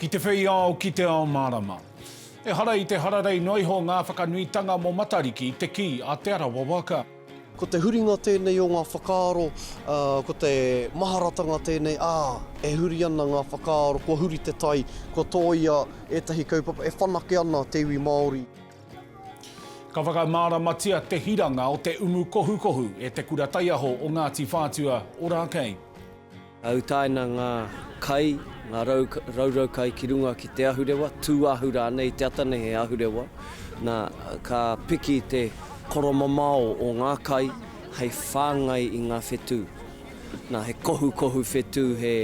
Ki te whei ao, ki te ao mārama. Ehara i te hararei noa iho ngā whakanuitanga mō Matariki i te kī a Te Arawa waka. Ko te huringa tēnei o ngā whakaaro, ko te maharatanga tēnei, ā, e huri ana ngā whakaaro, kua huri te tai, kua tōia ētahi kaupapa, e whanake ana te iwi Māori. Ka whakamāramatia te hiranga o te umu kohukohu e Te Kura Taiaho o Ngāti Whātua, Orakei. Ka utaina ngā kai, ngā raurau kai ki runga ki te ahurewa, tūahu rānei i te ata nei he ahurewa, nā, ka piki te koromamao o ngā kai hei whāngai i ngā whetū. Nā, he kohukohu whetū, he,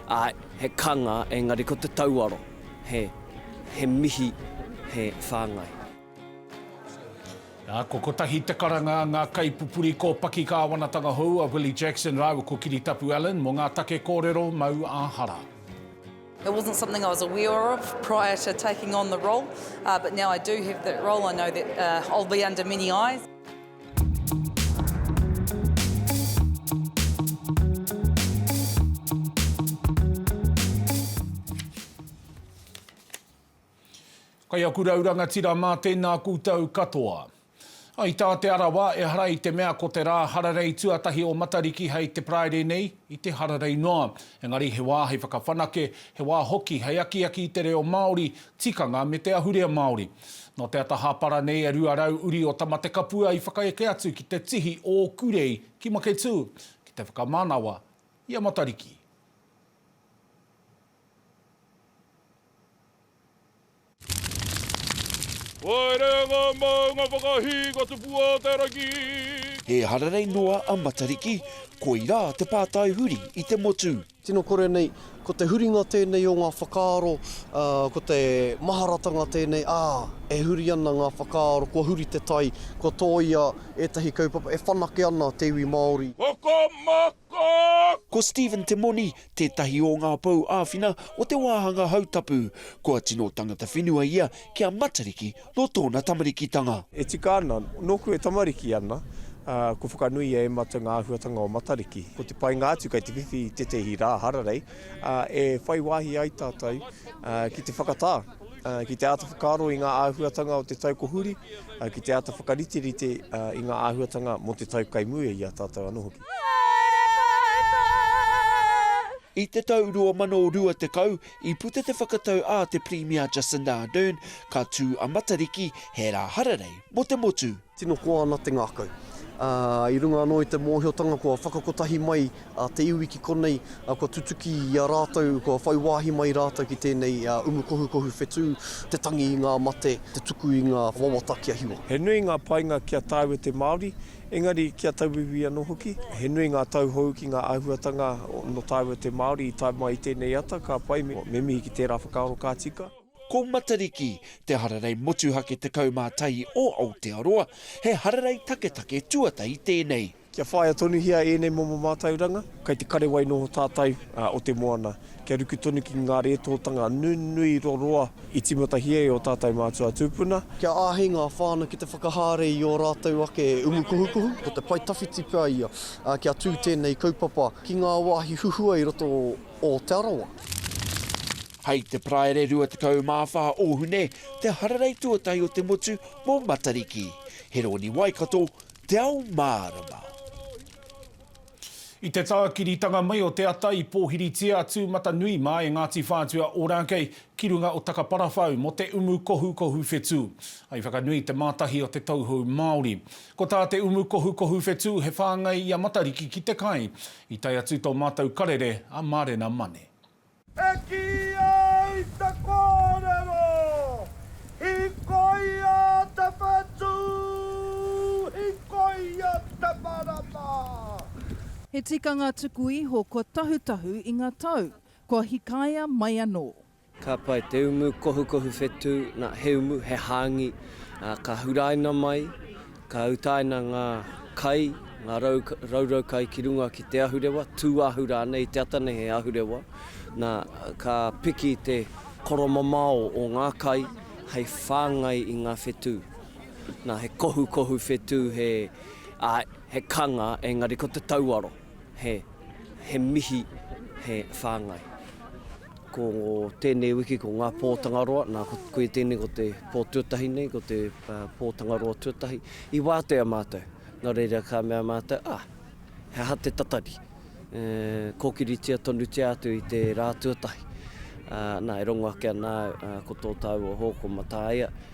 āe, he kanga, engari ko te tauaro. he, he mihi, he whāngai. Nā, ko kotahi te karanga a ngā kaipupuri kōpaki kāwanatanga hou a Willie Jackson rāua ko Kiritapu Allan mō ngā take kōrero mau ā-hara. It wasn't something I was aware of prior to taking on the role, but now I do have that role, I know that I'll be under many eyes. Kai aku rau rangatira mā tēnā koutou katoa. I tā Te Arawa, ehara i te mea ko te rā hararei tuatahi o Matariki hei te Paraire nei, i te hararei noa. Engari he wā hei whakawhanake, he wā hoki hei akiaki i te reo Māori, tikanga me te ahurea Māori. Nō te ata hāpara nei e 200 uri o Tamatekapua i whakaeke atu ki te tihi o Kurei ki Maketū ki te whakamanawa i a Matariki. Haere ngā maunga whakahī ka tupu a te rangi. He hararei noa a Matariki, koirā te pātai huri i te motu. Tino kore nei, ko te huringa tēnei o ngā whakaaro, ko te maharatanga tēnei, ā, e huri ana ngā whakaaro, kua huri te tai, kua tōia ētahi kaupapa, e whanake ana te iwi Māori. Hokomoko! Ko Stephen Te Moni tētahi o ngā pou āwhina o te wāhanga hautapu. Kua tino tangata whenua ia ki a Matariki Nō tōna tamarikitanga. E tika ana, nōku e tamariki ana, ā, kua whakanui e Emata ngā āhuatanga o Matariki. Ko te painga atu kei te whiwhi i tētehi rā hararei, ā, e whai wāhi ai tātou, ā, ki te whakatā, ā, ki te āta whakaaro i ngā āhuatanga o te tau ko huri, ā, ki te āta whakariterite, ā, i ngā āhuatanga mō te tau kei mua i a tātou anō hoki. I te tau 2020, I puta te whakatau a te Pirimia Jacinda Ardern ka tū a Matariki he rā hararei mō te motu. Tino koa ana te ngākau. I runga anō i te mōhiotanga kua whakakotahi mai te iwi ki konei, kua tutuki i a rātou, kua whai wāhi mai rātou ki tēnei umu kohukohu whetū, te tangi i ngā mate, te tuku i ngā wawata kia hiwa. He nui ngā painga ki a tāua te Māori, Engari kia tauwiwi anō hoki, he nui ngā tauhou ki ngā āhuatanga nō tāua te Māori i tae mai i tēnei ata, ka pai me mihi ki tērā whakaaro ka tika. Ko Matariki, te hararei motuhake 11 o Aotearoa, he hararei taketake tuatahi tēnei. Kia whāia tonuhia ēnei momo mātauranga. Kei te karewai noho tātou o te moana. Kia ruku tonu ki ngā rētōtanga nunui roroa i tīmatahia e ō tātou mātua tūpuna. Kia āhei ngā whānau ki te whakahaere i ō rātou ake umu kuhukuhu. Ko te pae tawhiti pea ia kia tū tēnei kaupapa ki ngā wāhi huhua i roto o Te Arawa. Hei te Paraire 24 o Hune te hararei tuatahi o te motu mō Matariki. He rōni Waikato, Te Ao Mārama. I te tākiritanga mai o te ata i pōhiritia a Tūmatanui mā e Ngāti Whātua Ōrākei ki runga o Takaparawhau mō te umu kohukohu whetū. I whakanui te mātahi o te tauhou Māori. Ko tā te umu kohukohu whetū he whāngai i a Matariki ki te kai. I tae atu tō mātou karere a Mārena Mane. E kī ai te kōrero, Hikoia te whetū, hikoia te marama. He tikanga tuku iho kua tahutahu i nga tau, kua hikaia mai anō. Ka pai te umu kohukohu whetū, na, he umu, he hāngi, ā, ka huraina mai. Ka utaina ngā kai, ngā raurau kai ki runga ki te ahurewa, tūāhu rānei i te ata nei he ahurewa. Nā, ka piki te koromamao o ngā kai hei whāngai i ngā whetū. Nā, he kohukohu whetū, he, āe, he kanga, engari ko te tauaro, he, he mihi, he whāngai. Ko tēnei wiki ko ngā pō Tangaroa, nā koe tēnei ko te pō tuatahi nei, ko te pō Tangaroa tuatahi. I wātea mātou, nā reira ka mea mātou, ah, he aha te tatari? E, kōkiritia tonutia atu i te rā tuatahi. Nā, e rongo ake ana au, ko tō tāua hō, ko Mataia,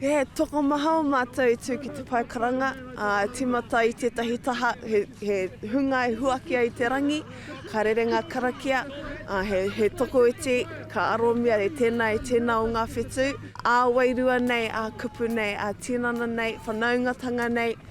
He tokomaha o mātou i tū ki te pae karanga, ā, e tīmata i tētahi taha, he, he hunga e huaki ai te rangi, ka rere ngā karakia, ā, he, he tokoiti, ka aromia e tēnā, e tēnā o ngā whetū, ā, wairua nei, ā, kupu nei, ā, tinana nei, whanaungatanga nei.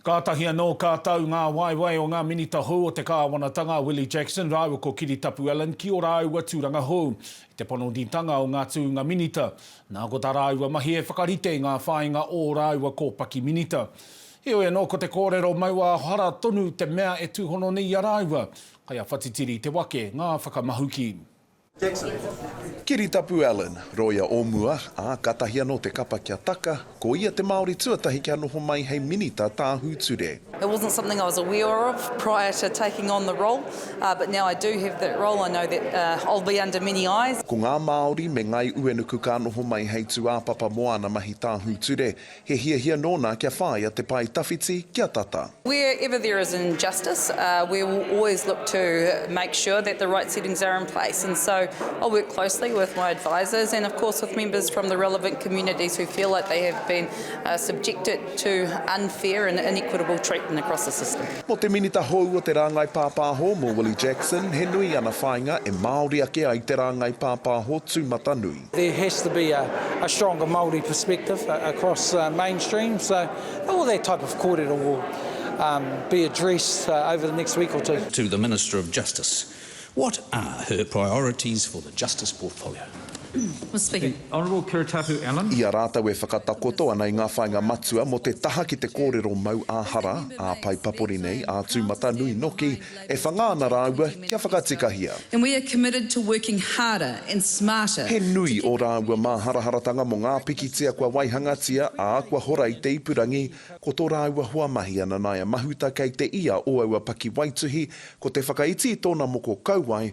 Kātahi anō ka tau ngā waewae o ngā Minita hou o te Kāwanatanga a Willie Jackson rāua ko Kiritapu Allan ki ō rāua tūranga hou i te panonitanga o ngā tūnga Minita, nā ko tā rāua mahi e whakarite i ngā whāinga o ō rāua kōpaki Minita. Heoi anō ko te kōrero maua hara tonu te mea e tūhono nei i a rāua, kai a Whatitiri te wake, ngā whakamahuki. Kiritapu Allen, roia o mua, ā, kātahi anō te kapa kia taka, ko ia te Māori tuatahi kia noho mai hei Minita Tāhūture. It wasn't something I was aware of prior to taking on the role, but now I do have that role, I know that I'll be under many eyes. Ko ngā Māori me Ngāi Uenuku ka noho mai hei tūāpapa mō āna mahi tāhūture, He hiahia nōna kia whāia te pae tawhiti kia tata. Where ever there is injustice, we will always look to make sure that the right settings are in place and so I work closely with my advisers and of course with members from the relevant communities who feel like they have been subjected to unfair and inequitable treatment across the system. Mō te Minita hou o te Rāngai Pāpāho, mō Willie Jackson, he nui ana whāinga e Māori ake ai te rāngai pāpāho tūmatanui. There has to be a stronger Māori perspective across mainstream, so all that type of kōrero will be addressed over the next week or two. To the Minister of Justice, what are her priorities for the Justice Portfolio? Mr Speaker, the Honourable Kiritapu Allan. I a rātou e whakatakoto ana i ngā whāinga matua mō te taha ki te kōrero mau ā-hara, ā-paepapori nei, ā-tūmatanui noki, e whanga ana rāua kia whakatikahia. And we are committed to working harder and smarter. He nui ō rāua māharaharatanga mō ngā pikitia kua waihangatia, ā, kua hora i te ipurangi, ko tō rāua hoamahi a Nanaia Mahuta kei te ia o aua pakiwaituhi, ko te whakaiti i tōna moko kauae,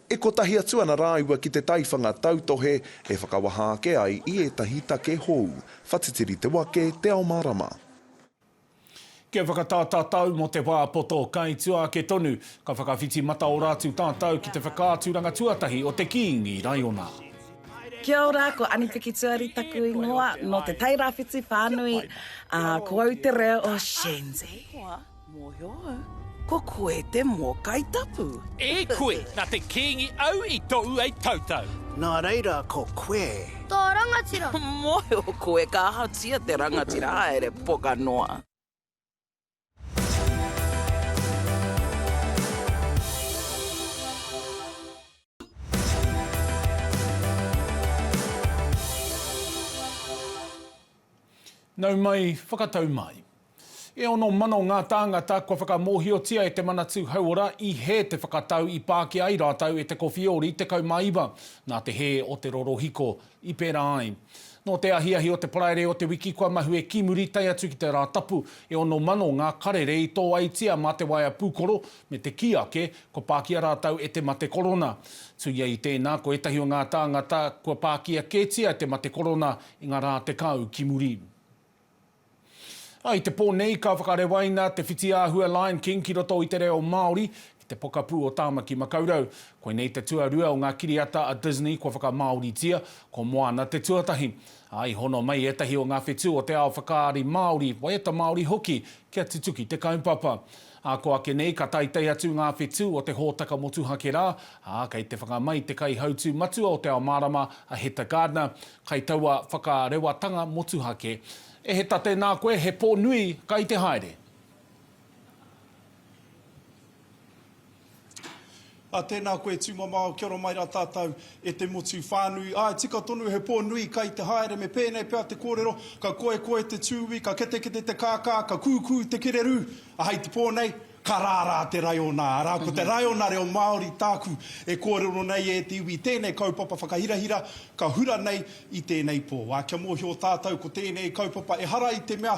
E kotahi atu ana rāua ki te taiwhanga tautohe e whakawaha ake ai i ētahi take hou, whatitiri te wake, te ao mārama. Kia whakatā tātou mō te wā poto, kai tua ake tonu, ka whakawhiti mataora atu tātou ki te whakaaturanga tuatahi o te Kīngi Raiona. Kia ora, ko Anipiki Tuari taku ingoa, nō te Tairāwhiti whānui, ā, ko au te reo o Shenzi. Mōhio au, ko koe te mōkai tapu. E koe, na te Kingi au i tou ai tautau. Na reira ko koe. To rangatira. Mōhio koe ka ahatia te rangatira haere poka noa. Nau mai, whakatau mai. E ono mano ngā tāngata kua whakamōhiotia e Te Manatū Hauora i hē te whakatau i pākia ai rātou e Te Kowhiori 19 nā te hē o te rorohiko i pērā ai. Nō te ahiahi o te Paraire o te wiki kua mahue ki muri tae atu ki te Rātapu, e ono mano ngā karere i tōaitia mā te waea pūkoro me te kī ake kua pākia rātou e te mate korona. Tuia i tēnā, ko ētahi o ngā tāngata kua pākia kētia te mate korona i ngā rā tekau ki muri. I te pō nei ka whakarewaina te whitiāhua Lion King ki roto i te reo Māori ki te pokapū o Tāmaki Makaurau. Koinei te tuarua o ngā kiriata a Disney kua whakamāoritia, ko Moana te tuatahi. Ā, i hono mai ētahi o ngā whetū o te ao whakaari Māori, waiata Māori hoki, kia tutuki te kaupapa. Ā, kua ake nei ka taetae atu ngā whetū o te hōtaka motuhake rā, ā, kei te whakamai te kaihautū matua o Te Ao Mārama, a Heta Gardner, kai taua whakarewatanga motuhake. E Heta, tēnā koe, he pō nui, kai te haere! Ā, tēnā koe tūmamao, kia ora mai rā tātou e te motu whānui. Āe, tika tonu he pō nui kai te haere, me pēnei pea te kōrero, ka koekoe te tūī, ka ketekete te kākā, ka kūkū te kererū, ā, hei te pō nei, ka rārā te raiona, arā, ko te raiona reo Māori tāku e kōrero nei e te iwi, tēnei kaupapa whakahirahira ka hura nei i tēnei pō. Ā, kia mōhio tātou ko tēnei kaupapa ehara i te mea,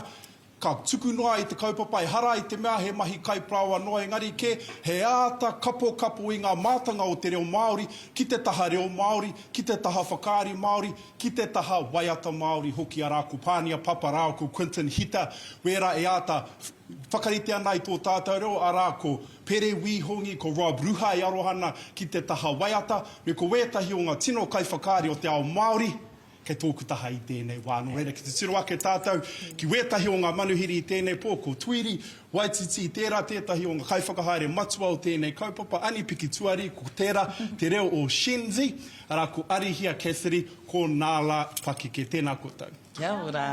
Ka tuku noa i te kaupapa ehara i te mea he mahi kaiparāoa noa engari kē he āta kapokapo i ngā mātanga o te reo Māori ki te taha reo Māori, ki te taha whakaari Māori, ki te taha waiata Māori hoki arā ko Pānia Papa rāua ko Quinton Hita wērā e āta whakarite ana i tō tātou reo arā ko Pere Wī Hongi, ko Rob Ruha e aroha ana ki te taha waiata me ko wētahi o ngā tino kaiwhakaari o te ao Māori. Kei tōku taha i tēnei wā, nō reira ki te tiro ake tātou ki wētahi o ngā manuhiri i tēnei pō, ko Tuiri, Waititi, tērā tētahi o ngā kaiwhakahaere matua o tēnei kaupapa, Anipiki Tuari, ko tērā te reo o Shenzi, arā, ko Arihia Cassidy, ko Nala Pakeke. Tēnā koutou. Kia ora.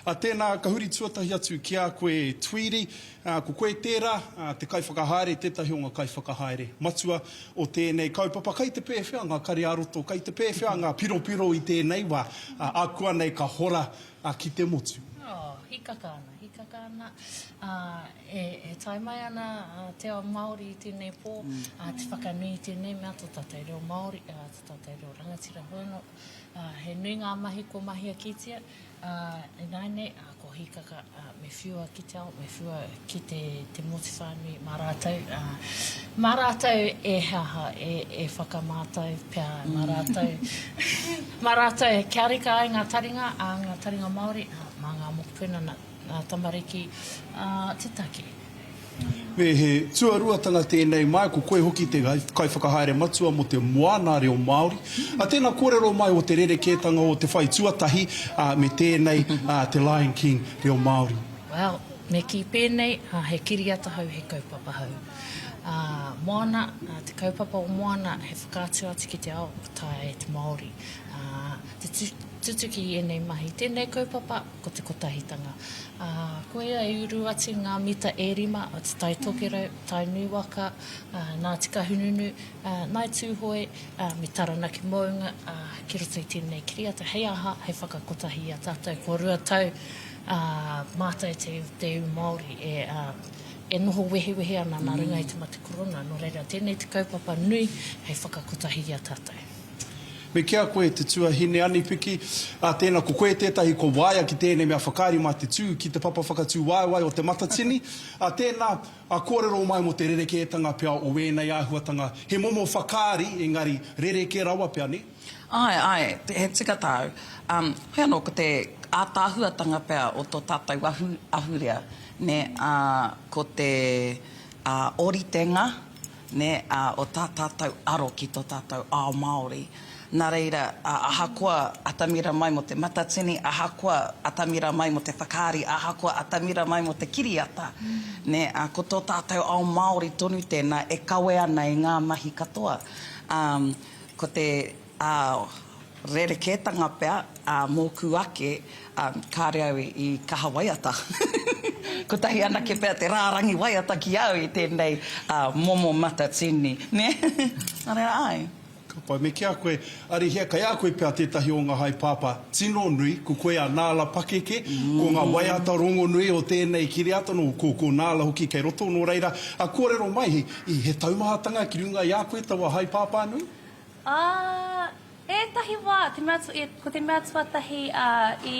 Ā, tēnā, ka huri tuatahi atu ki a koe Tuiri, ā, ko koe tērā, ā, te kaiwhakahaere, tētahi o ngā kaiwhakahaere matua, o tēnei kaupapa, kei te pēwhea ngā kare-ā-roto, kei te pēwhea ngā piropiro i tēnei wā, akuanei ka hora ki te motu. Oh, hikaka ana, hikaka ana, e tae mai ana te ao Māori i tēnei pō, te whakanui i tēnei mea tō tātou reo Māori, tō tātou reo rangatira hono, he nui ngā mahi kua mahia kētia, Ā, ināianei, ā, ko Hīkaka, ā, me whiua ki te ao, me whiua ki te, te motu whānui mā rātou, ā, mā rātou e he aha, e, e whakamātau pea mā rātou, mā rātou e kia reka ai ngā taringa, ā, ngā taringa Māori, ā, mā ngā mokopuna, nā, nā tamariki, ā, te take. Me he tuaruatanga tēnei mai, ko koe hoki te Kaiwhakahaere Matua mō te Moana Reo Māori. Tēnā kōrero mai o te rerekētanga o te whai tuatahi me tēnei te Lion King Reo Māori. Well, me kī pēnei, he kiriata hou, he kaupapa hou. Moana, te kaupapa o Moana, he whakaatu atu ki te ao, ka taea e te Māori te tutuki i ēnei mahi. Tēnei kaupapa, ko te kotahitanga. Ā, koia i uru atu ngā mita e rima o te tai tokerau, tai nūwaka, ā, nā Tikahununu, ā, nāi Tūhoe, ā, me Taranaki mounga, ā, ki roto i tēnei kiriata, hei aha, hei whakakotahi i a tātou kua rua tau, ā, mātai te, te ū Māori e, ā, e noho wehewehe ana nā runga i te mate korona, nō reira, tēnei te kaupapa nui hei whakakotahi i a tātou. Me kī a koe, te tuahine anipiki, ā, tēnā, ko koe tētahi kua waia ki tēnei mea whakaari mā te tū ki te papa whakatūwaewae o Te Matatini, ā, tēnā, ā, kōrero mai mō te rerekētanga pea o ēnei āhuatanga, he momo whakaari, engari, rerekē rawa pea, nē? Āe, āe, he tika tāu. Ā, heoi anō, ko te ātaahuatanga pea o tō tātou ahu, ahurea, nē, ā, ko te, ā, ōritenga, nē, ā, o tā tātou aro ki tō tātou ao Māori. Nā reira, ahakoa atamira mai mō te matatini, ahakoa atamira mai mō te whakaari, ahakoa atamira mai mō te kiriata, nē, ā, ko tō tātou ao Māori tonu tēnā e kawe ana i ngā mahi katoa, ā, ko te. Ā, rerekētanga pea ā mōku ake, ā, kāre au i kaha waiata. Kotahi anake pea te rārangi waiata ki au i tēnei ā momo matatini, nē? Nā reira, āe. Ka pai me kīa koe, Arihia, kei a koe pea tētahi o ngā haepāpā tino nui, ko koe a Nāla pakeke, ko ngā waiata rongonui o tēnei kiriata nō, ko, ko Nāla hoki kei roto, nō reira, ā, kōrero mai, he taumahatanga ki runga i a koe taua haepāpā nui? Ā, ētahi wā, te mea, ko te mea tuatahi i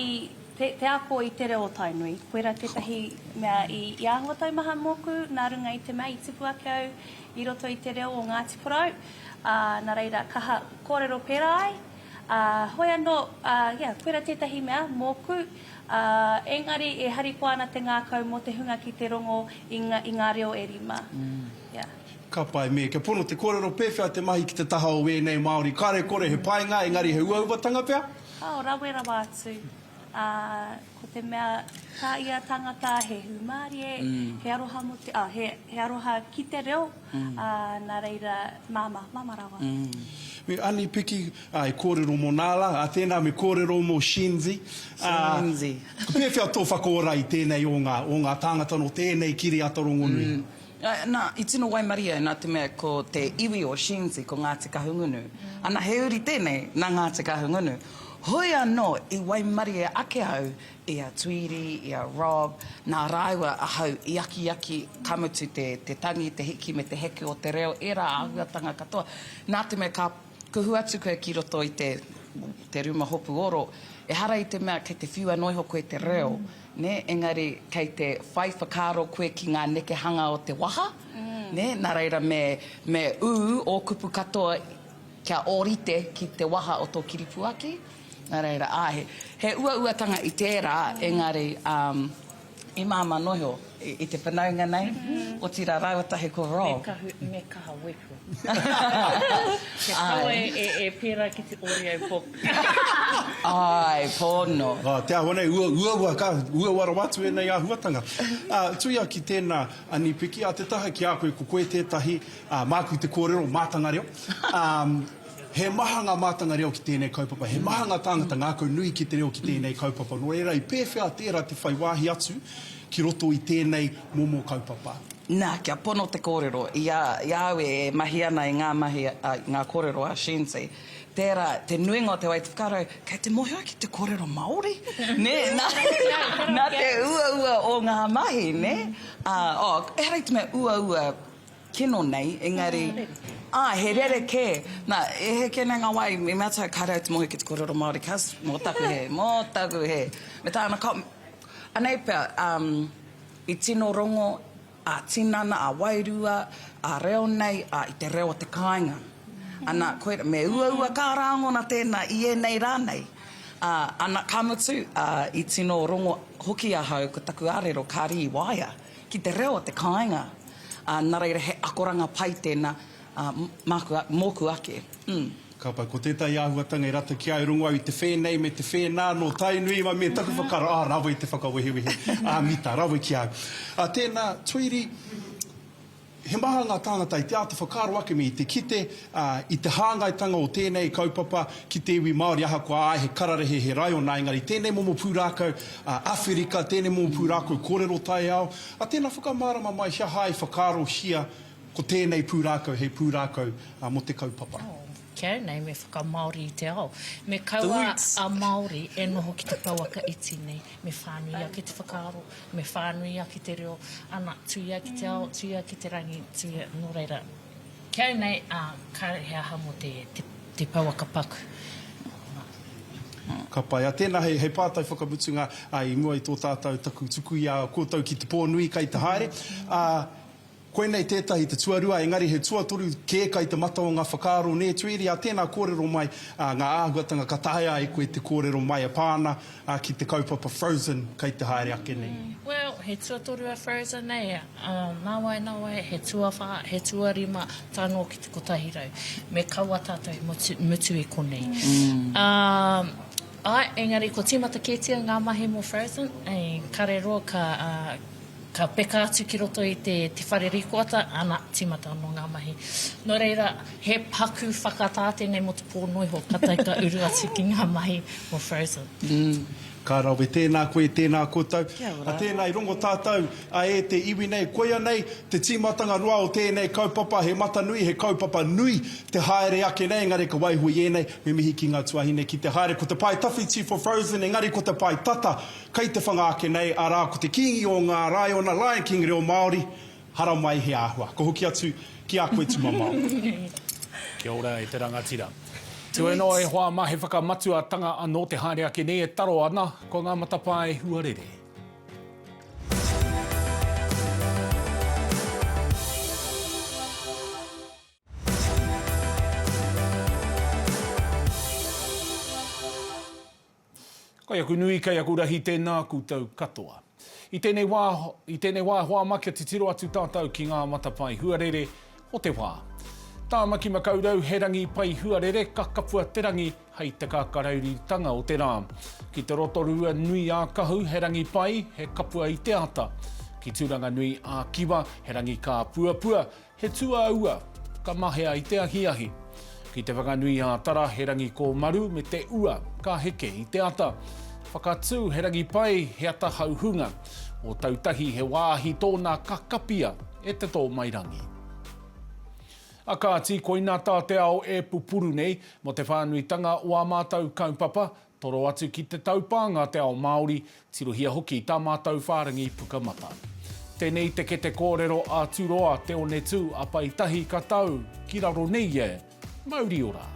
te, te ako i te reo o Tainui, koirā tētahi mea i, i āhua taumaha mōku nā runga i te mea i tupu ake au i roto i te reo o Ngāti Porou, ā, nā reira, kaha kōrero pērā ai. Ā, hoi anō, ā, ia, koirā tētahi mea mōku, ā, engari e harikoa ana te ngākau mō te hunga ki te rongo i, i ngā reo e rima. Ia. Ka pai me, kia pono te kōrero pēwhea te mahi ki te taha o wēnei Māori, kare kore he painga engari he uauatanga pea? Kāo rawe rawa atu, ā, ko te mea tā ia tangata he hūmārie, he aroha mō te, ā, he, he aroha ki te reo, ā, nā reira, māmā, māmā rawa. Me Ani Piki, ā, e kōrero mō nā la, ā, tēnā me kōrero mō Shenzi, ā, pēwhea tō whakaora i tēnei o ngā, o ngā tāngata nō tēnei kiriata rongonui? Nā, i tino waimarie au nā te mea ko te iwi o Shenzi ko Ngāti Kahungunu. Ana, he uri tēnei nā Ngāti Kahungunu. Hoi anō i waimarie ake au i a Tweedy, i a Rob, nā rāua ahau i akiaki, ka mutu te tangi, te hiki me te heke o te reo, ērā āhuatanga katoa, nā te mea ka Kuhu atu koe ki roto i te, te ruma hopu oro, ehara i te mea kei te whiua noa iho koe te reo, nē, engari kei te whai whakaaro koe ki ngā nekehanga o te waha, nē, nā reira me, me ū ō kupu katoa kia ōrite ki te waha o tō kiripuaki, nā reira, āe, he, he uauatanga i tērā, engari, um. I māmā noho i te whanaunga nei, otirā rāua tahi ko Rob. Me kahu, me kaha wepu. Kia kawe e pērā ki te Oreo book. Āe, pono. Te āhua nei, uaua ka, uaua rawa atu ēnei āhuatanga. Tuia ki tēnā, a Nipiki, a te taha ki a koe, ko koe tētahi, māku te kōrero, mātanga reo. He maha ngā mātanga reo ki tēnei kaupapa, he maha ngā tāngata ngākau nui ki te reo ki tēnei kaupapa, nō reira i pēwhea tērā te whai wāhi atu ki roto i tēnei momo kaupapa? Nā, kia pono te kōrero, i a, i a au e mahi ana i ngā mahi, i ngā kōrero a Shensi, tērā, te nuinga o te wā i te whakaaro, kei te mōhio ki te kōrero Māori, nē, nā, nā te uaua o ngā mahi, nē? Ā, oh, ehara i te mea uaua, Kino nei, engari, ah, he rerekē. Na, e heke nei ngā wā, i mea taku kāre au te mohi ki te kōrero Māori, kas, mō taku hē, mō taku hē. Me tāna ka, anei pea, um, i tino rongo a tinana, a wairua, a reo nei, a i te reo o te kāinga. Ana, koir, me uaua kā rāngona tēnā i ēnei rā nei. A, ana, ka mutu, a, i tino rongo hoki ahau ko taku ārero, kāre i waea. ki te reo o te kāinga, ā, nā reira he akoranga pai tēnā, ā, māku, mōku ake. Hm. Ka pai, ko tētahi āhuatanga e rata ki a i rongo au i te whēnei me te whēnā nō Tainui, mai me taku whakaaro, ā, rawe te whakawehewehe, ā, mita, rawe ki a au. Ā, tēnā, Tweedy, He maha ngā tāngata i te āta whakaaro ake me i te kite i te hāngaitanga o tēnei kaupapa ki te iwi Māori ahakoa āe he kararehe, he raiona engari tēnei momo pūrākau Awherika, tēnei momo pūrākau kōrero taiao, a tēnā whakamārama mai he aha i whakaarohia ko tēnei pūrākau hei pūrākau mō te kaupapa. Care nei me whakamāori i te ao. Me kaua a Māori e noho ki te pouaka iti nei. Me whānui ake te whakaaro, me whānui ake te reo, ana, tuia ki te ao, tuia ki te rangi, tuia, nō reira, Care nei, ā, kāre he aha mō te, te, te pouaka paku. Ka pai. Ā, tēnā, hei, hei pātai whakamutunga, ā, i mua i tō tātou, taku tuku i a koutou ki te pō nui kai te haere, ā, Koinei tētahi te tuarua, engari he tuatoru kē kai te mata o ngā whakaaro nē Tweeria, tēnā kōrero mai ngā āhuatanga ka taea ai koe te kōrero mai e pā ana ki te kaupapa Frozen kai te haere ake nei. Well, he tuatoru a Frozen nei, nāwai, nāwai, he tuawhā, he tuarima tae noa ki te kotahi rau. Me kaua tātou i mutu, mutu i konei. Āe, engari kua tīmata kētia ngā mahi mō Frozen, kare roa ka, Ka peka atu ki roto i te whare rīkoata, ana, tīmata anō ngā mahi. Nō reira, he paku whakatā tēnei mō te pō noa iho, ka tae ka uru atu ki ngā mahi o Frozen. Ka rawe, tēnā koe, tēnā koutou. Kia ora. Tēnā, i rongo tātou e te iwi nei. Koia nei te tīmatanga roa o tēnei kaupapa, he mata nui, he kaupapa nui te haere ake nei, engari ka waiho i ēnei, me mihi ki ngā tuahine ki te haere. Ko te pae tawhiti for Frozen, engari ko te pae tata, Kei te whanga ake nei, arā, ko te Kīngi o ngā Raiona, Lion King reo Māori, haramai he āhua. Ko hoki atu ki a koe tumamao. Kia ora e te rangatira. Tuenoa e hoa ma he whakamatua tanga ano te haere ake nei e taro ana ko nga matapaa e huarere. Kei aku nui, kei aku rahi tēnā koutou katoa. I tēnei wā, i tēnei wā e hoa ma kia titiro atu tātou ki ngā matapae huarere o te wā. Tāmaki Makaurau he rangi pai huarere ka kapua te rangi hei te kākarauritanga o te rā. Ki te Rotorua nui ā Kahu he rangi pai, he kapua i te ata. Ki Turanganui ā Kiwa he rangi kāpuapua, He tuaua, ka mahea i te ahiahi. Ki te whakanui ā-tara, he rangi kōmaru me te ua, ka heke i te ata. Whakatū, he rangi pai, he ata hauhunga. Ōtautahi, he wāhi tōna ka kapia e te tōmairangi. A kāti, koina tā te ao e pupuru nei, mō te whānuitanga o ā mātou kaupapa, Toro atu ki te taupānga te ao Māori, tirohia hoki tā mātou whārangi puka mata. Tēnei i te kete kōrero a Turoa Te Onetū a Pai Tahi ka tau ki raro nei e! Mauri ora!